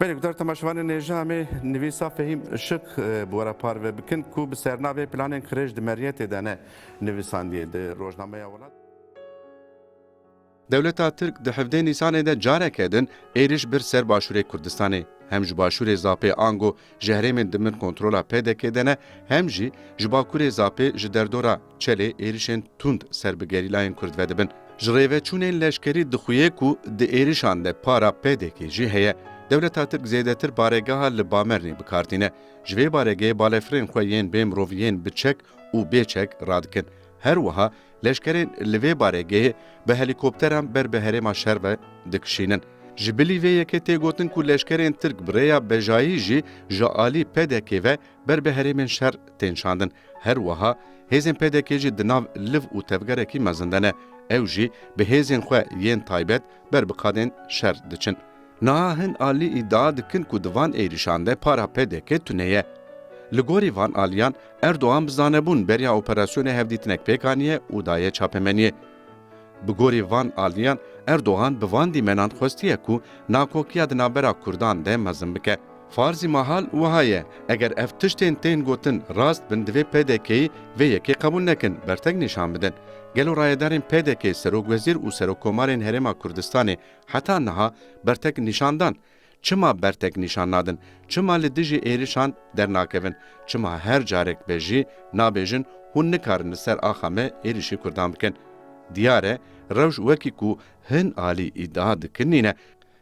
Belê gutar temaşevanên nêja em ê nivîsa Fehîm Işık bi we re parve bikin ku bi sernavê Planên Qirêj di Meriyetê de ne nivîsandiye di rojnameya Welat. Dewleta Tirk di hevdeh Nîsanê de careke din êriş bir ser başûrê Kurdistanê. Hem ji başûrê Zapê ango ji herêmên di bin kontrola PDK'ê de ne hem jî ji bakurê Zapê ji derdora Çelê êrişên tund ser bi gerîlayên Kurd ve dibin. Ji rêveçûnên leşkerî dixuye ku di êrişan de para PDK jî heye. Dewleta Tirk zêdetir baregeha li Bamernê bi kar tîne. Ji vê baregehê balefirên xwe yên bê mirov yên bi çek û bê çek radikin. Her wiha leşkerên li vê baregehê bi helîkopteran ber bi herêma şer ve dikişînin. Ji bilî vê yekê tê gotin ku leşkerên Tirk bi rêya bejayî jî ji alî PDK ve Ber bi herêmên şer tên şandin. Her wiha hêzên PDK'ê jî di nav liv û tevgerekî mezin de ne. Ew jî bi hêzên xwe yên taybet ber bi qadên şer diçin. Niha hin alî îdia dikin ku di van êrîşan de para PDK tune ye. Li gorî van aliyan Erdogan bi zanebûn beriya operasyonê hevdîtinek pêk aniye û daye çapemeniyê. Bi gorî van aliyan Erdogan bi van dîmenan xwestiye ku nakokiya di navbera kurdan de mezin bike. Farzî mahal wiha ye, eger ev tiştên tên gotin rast bin divê PDK'yî vê yekê qebûl nekin, bertek nîşan bidin. Gelo rayedarên PDK'ê serokwezîr û serokkomarên Herêma Kurdistanê heta niha bertek nîşan dan Çima bertek nîşan nadin? Çima li dijî êrişan dernakevin? Çima her carek be jî nabêjin hûn nikarin li ser axa me êrişî kurdan bikin? Diyar e rewş wekî ku hin alî îdia dikin nîne.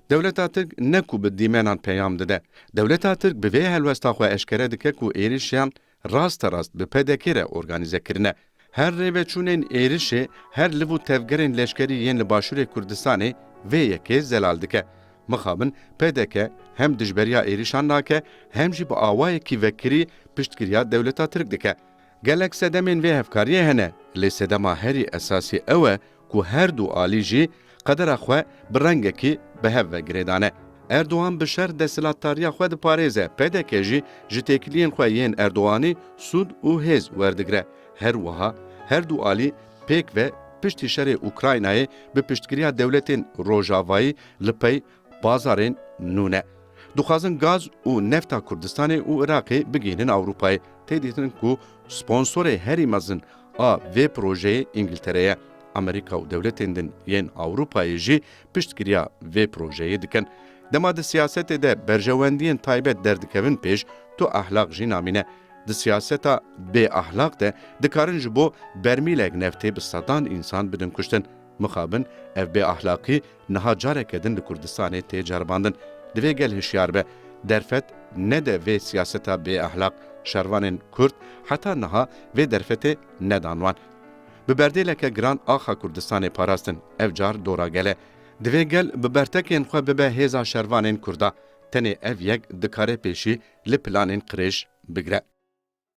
Dewleta Tirk ne ku bi dîmenan peyam dide. Dewleta Tirk bi vê helwesta xwe eşkere dike ku êrişiyan rasterast bi PDK'ê re organîze kirine. Her rêveçûnên êrişê, her liv û tevgerên leşkerî yên li Başûrê Kurdistanê vê yekê zelal dike. Mixabin PDK hem dijberiya êrişan nake hem jî bi awayekî vekirî piştgiriya dewleta Tirk dike. Gelek sedemên vê hevkariyê hene lê sedema herî esasî ew e ku her du alî jî qedera xwe bi rengekî bi hev ve girêdane. Erdogan bi şer desthilatdariya xwe diparêze, pdk jî ji têkiliyên xwe yên Erdoganî sûd û hêz werdigire. Her wiha her du alî pêk ve piştî şerê Ukraynayê bi piştgiriya dewletên Rojavayî li pey Bazarên nû ne. Dixwazin gaz û nefta Kurdistanê û Iraqê bigihînin Ewropayê. Tê dîtin ku sponsorê herî mezin a vê projeyê Îngiltere ye. Amerîka û dewletên din yên Ewropayê jî piştgiriya vê projeyê dikin. Dema di siyasetê de berjewendiyên taybet derdikevin pêş, tu ehlaq jî namîne. Di siyaseta bê ehlaq de dikarin ji bo bermîlek neftê bi sedan însan bidin kuştin. Mixabin ev bê ehlaqî niha careke din li Kurdistanê tê ceribandin. Divê gel hişyar be, derfet nede vê siyaseta bêehlaq, şervanên Kurd heta niha vê derfetê nedan wan. Bi berdêleke giran axa Kurdistanê parastin, ev car dora gel e. Divê gel bi bertekên xwe bibe hêza şervanên Kurda. Tenê ev yek dikare pêşî li planên qirêj bigire.